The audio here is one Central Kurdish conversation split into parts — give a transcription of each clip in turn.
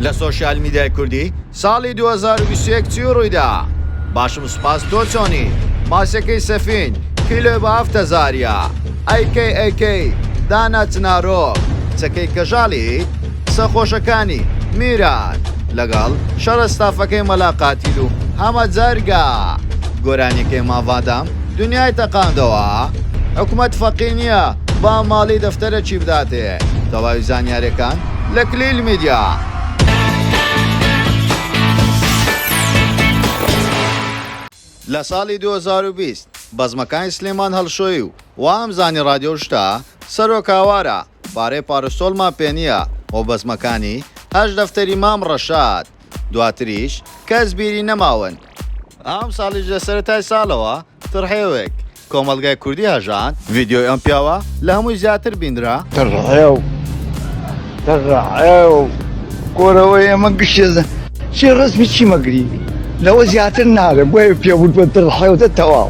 لە سۆشیال میدیای کوردی ساڵی 2021 چی و ڕوویدا باشم سوپاس تۆ چۆنی ماسەکەی سەفین کیلۆ بە هەفتە زاریا ئەیکەی ئەیکەی دانا چنارۆ چەکەی کەژاڵی سەخۆشەکانی میران لەگەڵ شەڕە ستافەکەی مەلاقاتیل و هەمە جەرگا گۆرانیەکەی ماڤادام دنیای تەقاندەوە حکومەت فەقی نیە با ماڵی دەفتەرەکی بداتێ تەواوی زانیارەکان لە کلیل میدیا. لە ساڵی دوو هەزار و بیست بەزمەکانی سلێمان هەڵشۆی و وامزانی ڕادیۆ شتە سەرۆک هاوارە، پارەی پارسۆلمان پێ نییە و بەزمەکانی، هەشت دەفتەری مام ڕەشاد، دواتریش کەس بیری نەماون. ئەمساڵیش لە سەرەتای ساڵەوە تڕحێوێک، کۆمەڵگای کوردی هەژاند. ڤیدیۆی ئەم پیاوە لە هەمووی زیاتر بینرا. تڕحێو تڕحێو کۆرەوەی ئێمە گشتێ چی ڕەسمی چی مەگری لەوە زیاتر نارێ بۆیە پێ ووتوە تڕحێو تەواو.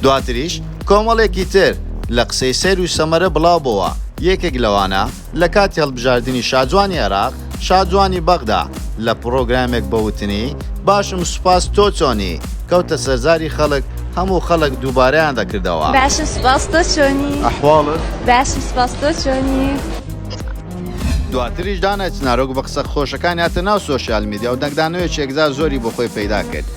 دواتریش کۆمەڵێکی تر لە قسەی سەیر و سەمەرە بڵاو بۆوە، یەکێک لەوانە، لە کاتی هەڵبژاردنی شاجوانی عێراق، شاجوانی بەغدا لە پڕۆگرامێک بە وتنی، باشم سوپاس تۆ چۆنی؟ کەوتە سەر زاری خەڵک، هەموو خەڵک دووبارەیان دەکردەوە. باشم سوپاس تۆ چۆنی؟ ئەحواڵت؟ باشم سوپاس تۆ چۆنی؟ دواتریش دانای چنارۆک بە قسە خۆشەکانی هاتە ناو سۆشیال میدیا و دەنگدانەوەیەکی یەکجار زۆری بۆ خۆی پەیدا کرد.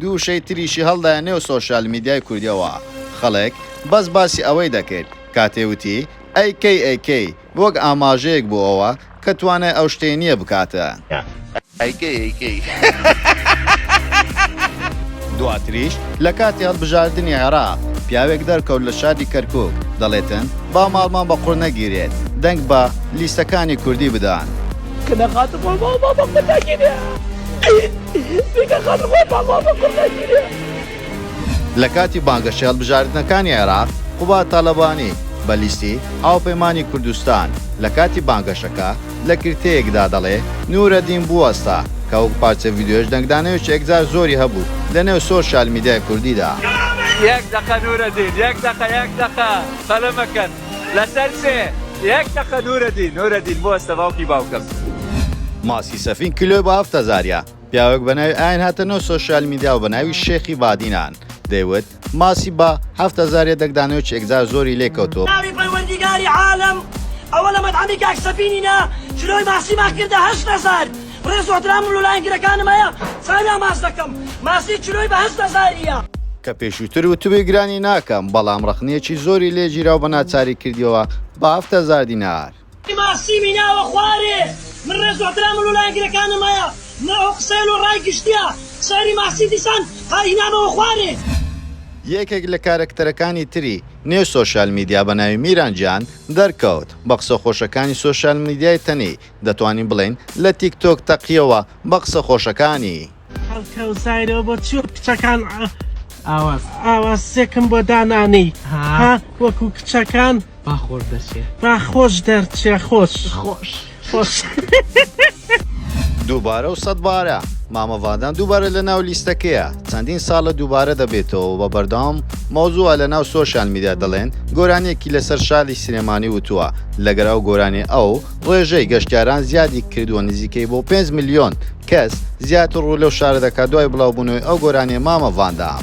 دوو وشەی تریشی هەڵدایە نێو سۆشیال میدیای کوردیەوە خەڵک بەس باسی ئەوەی دەکرد کاتێ وتی ئەی کەی ئەی کەی وەک ئاماژەیەک بۆ ئەوە کە توانای ئەو شتەی نیە بکاتە ئەی کەی ئەی کەی. دواتریش لە کاتی هەڵبژاردنی عێراق پیاوێک دەرکەوت لە شاری کەرکوک دەڵێتن با ماڵمان بە قوڕ نەگیرێت دەنگ بە لیستەکانی کوردی بدەن. کەنە خاتر خۆ بۆ بۆ بۆ کورداگیرێ بیکە خاتر خۆ بۆ بۆ بۆ کورداگیرێ لە کاتی بانگەشەی هەڵبژاردنەکانی عێراق، قوباد تاڵەبانی، بە لیستی، هاوپەیمانی کوردستان، لە کاتی بانگەشەکە، لە کرتەیەکدا دەڵێ، نورەدین بوەستە، کە وەک پارچە ڤیدیۆیش دەنگدانەوێکی ئەکجار زۆری هەبوو لە نێو سۆشیال میدیای کوردیدا. یەک دەقە نورەدین یەک دەقە یەک دەقە قەلە مەکەن. لەسەر سێ یەک دەقە نورەدین نورەدین بوەستە باوکی باوکەم. ماسی سەفین کیلۆی بە هەفت هەزاریە پیاوێک بە ناوی ئاین هاتە نەو سۆشیال میدیا و بە ناوی شێخی بادینان دەیوت ماسی بە هەفت هەزاریە دەکدانەوە چێکجار زۆری لێ کەوتووە ناوی پەروەردیگاری عالەم ئەوە لە مەتعەمی کاک سەفینینا کیلۆی ماسیمان کردە هەشت هەزار ڕێز و ئەحترامم لۆ لایەنگرەکانم هەیە چاویان ماچ دەکەم ماسی چلۆی بە هەشت هەزاریە. کە پێشووتر وتبووی گرانی ناکەم بەڵام ڕەخنەیەکی زۆری لێ گیرا و بە ناچاری کردیەوە بە هەفت هەزار دینار. ماسیمی ناوە خوارێ. من ڕێز و ئەحترامم لۆ لایەنگرەکانم هەیە نە ئەو قسەیە لۆ ڕای گشتیە شاری ماسی دیسان هەر هینامەوە خوارێ. یەکێک لە کارەکتەرەکانی تری نێو سۆشیال میدیا بە ناوی میران جان دەرکەوت بە قسە خۆشەکانی سۆشیال میدیای تەنی دەتوانین بڵێین لە تیک تۆک تەقیەوە بە قسە خۆشەکانی. خەڵکە و زایرەوە بۆ چی وەک کچەکان ئاواز ئاوازێکم بۆ دانانێی ها وەکو کچەکان با خۆش دەچێ با خۆش دەرچێ خۆش خۆش خۆش. دووبارە و سەد بارە مامە ڤادان دووبارە لە ناو لیستەکەیە چەندین ساڵە دووبارە دەبێتەوە بە بەردەوام مەوزوعە لە ناو سۆشیال میدیا دەڵێن گۆرانیەکی لەسەر شاری سلێمانی وتووە لەگەر ئەو گۆرانی ئەو ڕێژەی گەشتیاران زیادی کردووە نزیکەی بۆ پێنج ملیۆن کەس زیاتر ڕوو لەو شارە دەکات دوای بڵاوبوونەوەی ئەو گۆرانیە مامە ڤاندام.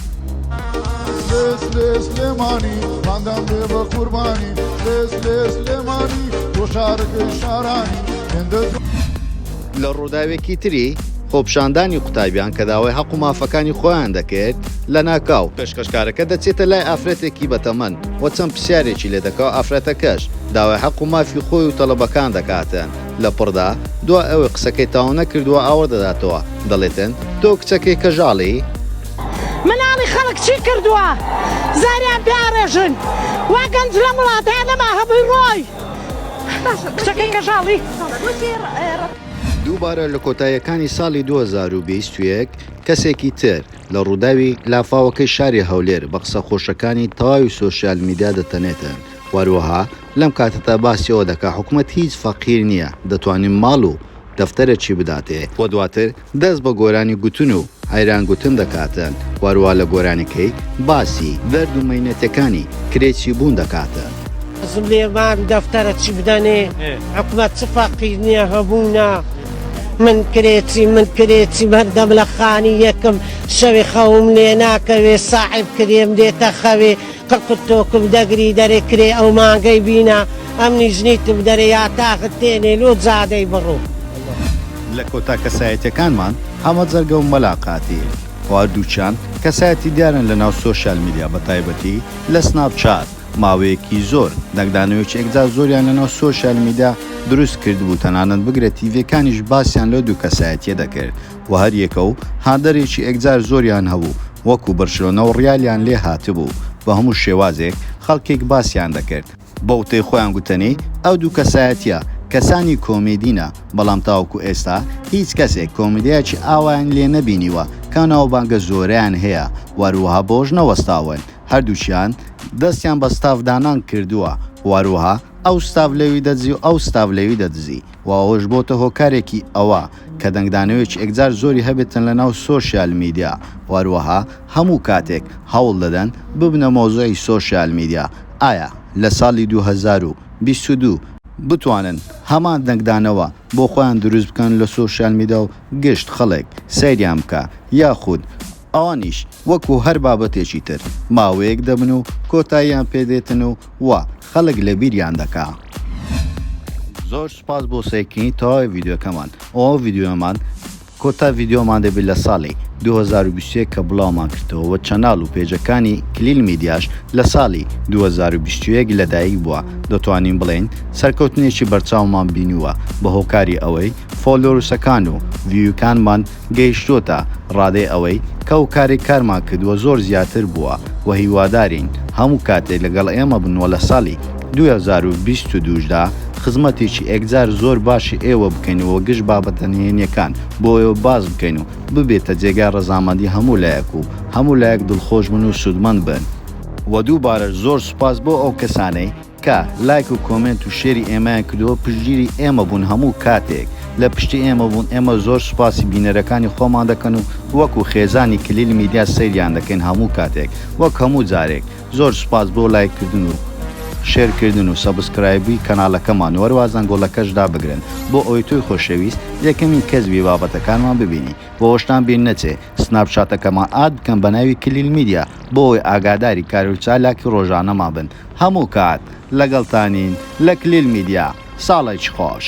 لە ڕووداوێکی تری خۆپشاندانی قوتابیان کە داوای هەق و مافەکانی خۆیان دەکرد لە ناکاو پێشکەشکارەکە دەچێتە لای ئافرەتێکی بەتەمەن و چەند پرسیارێکی لێ دەکا و ئافرەتەکەش داوای هەق و مافی خۆی و تەڵەبەکان دەکاتن لە پڕدا دوای ئەوەی قسەکەی تاو نەکردووە ئاوڕ دەداتەوە دەڵێتن تۆ کچەکەی کەژاڵی مناڵی خەڵک چی کردووە زاریان پێ ئاڕێژن وا گەنج لەم وڵاتەیە نەما هەمووی ڕۆی دووبارە لە کۆتاییەکانی ساڵی دوو هەزار و بیست و یەک کەسێکی تر لە ڕووداوی لافاوەکەی شاری هەولێر بە قسە خۆشەکانی تەواوی سۆشیال میدیا دەتەنێتن و هەروەها لەم کاتەدا باسی ئەوە دەکات حکومەت هیچ فەقیر نییە دەتوانێت ماڵ و دەفتەرەکی بداتێ و دواتر دەست بە گۆرانی گوتن و عەیران گوتن دەکاتن وەروا لە گۆرانیکەی باسی دەرد و مەینەتەکانی کرێچی بوون دەکاتن. حەزم لێیە مارو دەفتەرە چی بدەنێ حکومەت چ فەرقی نیە هەبوونە من کرێچیم من کرێچیم هەردەم لە خانی یەکم شەوێ خەوم لێناکەوێ ساحێب کرێم دێتە خەوێ تقت تۆکم دەگری دەرێ کرێ ئەو مانگەی بینە ئەم نیژنیتم دەرێ یا تاخت تێنێ لۆ جادەی بڕۆ. لە کۆتا کەسایەتیەکانمان حەمە جەرگە و مەلا قاتی خۆ هەردووکیان کەسایەتی دیارن لە ناو سۆشیال میدیا بە تایبەتی لە سناپ چات ماوەیەکی زۆر دەنگدانەوەیەکی یەکجار زۆریان لە ناو سۆشیال میدیا دروست کردبوو تەنانەت بگرە تیڤیەکانیش باسیان لەو دوو کەسایەتیە دەکرد و هەریەکە و هاندەرێکی ئێکجار زۆریان هەبوو وەکو برشلۆنە و ڕیالیان لێ هاتبوو بە هەموو شێوازێک خەڵکێک باسیان دەکرد بە وتەی خۆیان گوتەنی ئەو دوو کەسایەتیە کەسانی کۆمیدینە بەڵام تاوەکو ئێستا هیچ کەسێک کۆمیدیایەکی ئاوایان لێ نەبینیوە کە ناوبانگە زۆرەیان هەیە و هەروەها بەوەش نەوەستاون هەردووکیان دەستیان بە ستاف دانان کردووە و هەروەها ئەو ستاف لەوی دەدزی و ئەو ستاف لەوی دەدزی و ئەوەش بۆتە هۆکارێکی ئەوە کە دەنگدانەوێکی ئێکجار زۆری هەبێتن لە ناو سۆشیال میدیا و هەروەها هەموو کاتێک هەوڵ دەدەن ببنە مەوزوعی سۆشیال میدیا، ئایا لە ساڵی دوو هەزار و بیست و دوو، بتوانن هەمان دەنگدانەوە بۆ خۆیان دروست بکەن لە سۆشیال میدا و گشت خەڵک سەیریان بکا یاخود ئەوانیش وەکو هەر بابەتێکی تر ماوەیەک دەبن و کۆتاییان پێ دێتن و وا خەڵک لە بیریان دەکا. زۆر سوپاس بۆ سەیرکردنی تەواوی ڤیدیۆکەمان ئەو ڤیدیۆمان کۆتا ڤیدیۆمان دەبێت لە ساڵی دوو هەزار و بیست و یەک کە بڵاومان کردەوە وە چەناڵ و پێجەکانی کلیل میدیاش لە ساڵی دوو هەزار و بیست و یەک لەدایک بووە دەتوانین بڵێین سەرکەوتنێکی بەرچاومان بینیووە بە هۆکاری ئەوەی فۆلۆرسەکان و ڤیوکانمان گەیشتۆتە ڕادەی ئەوەی کە ئەو کارەی کارمان کردووە زۆر زیاتر بووە و هیوادارین هەموو کاتێک لەگەڵ ئێمە بن و لە ساڵی دوو هەزار و بیست و دوو دا خزمەتێکی ئێکجار زۆر باشی ئێوە بکەین و گشت بابەتە نهێنیەکان بۆ ئێوە باس بکەین و ببێتە جێگای ڕەزامەندی هەموو لایەک و هەموو لایەک دڵخۆش بن و سوودمەند بن. وە دووبارەش زۆر سوپاس بۆ ئەو کەسانەی کە لایک و کۆمێنت و شێری ئێمەیان کردووە پشتگیری ئێمە بوون هەموو کاتێک لە پشتی ئێمە بوون ئێمە زۆر سوپاسی بینەرەکانی خۆمان دەکەن و وەکو خێزانی کلیل میدیا سەیریان دەکەین هەموو کاتێک وەک هەموو جارێک زۆر سوپاس بۆ لایک کردن و شێر کردن و سەبسکرایبی کەنالەکەمان و هەروا زەنگۆڵەکەش دابگرن بۆ ئەوەی تۆی خۆشەویست یەکەمین کەس بی بابەتەکانمان ببینی بۆ ئەوەشتان بیر نەچێ سناپ چاتەکەمان ئاد بکەن بەناوی کلیل میدیا بۆ ئەوەی ئاگاداری کار و چالاکی ڕۆژانەمان بن هەموو کات لەگەڵتانین لە کلیل میدیا ساڵێکی خۆش.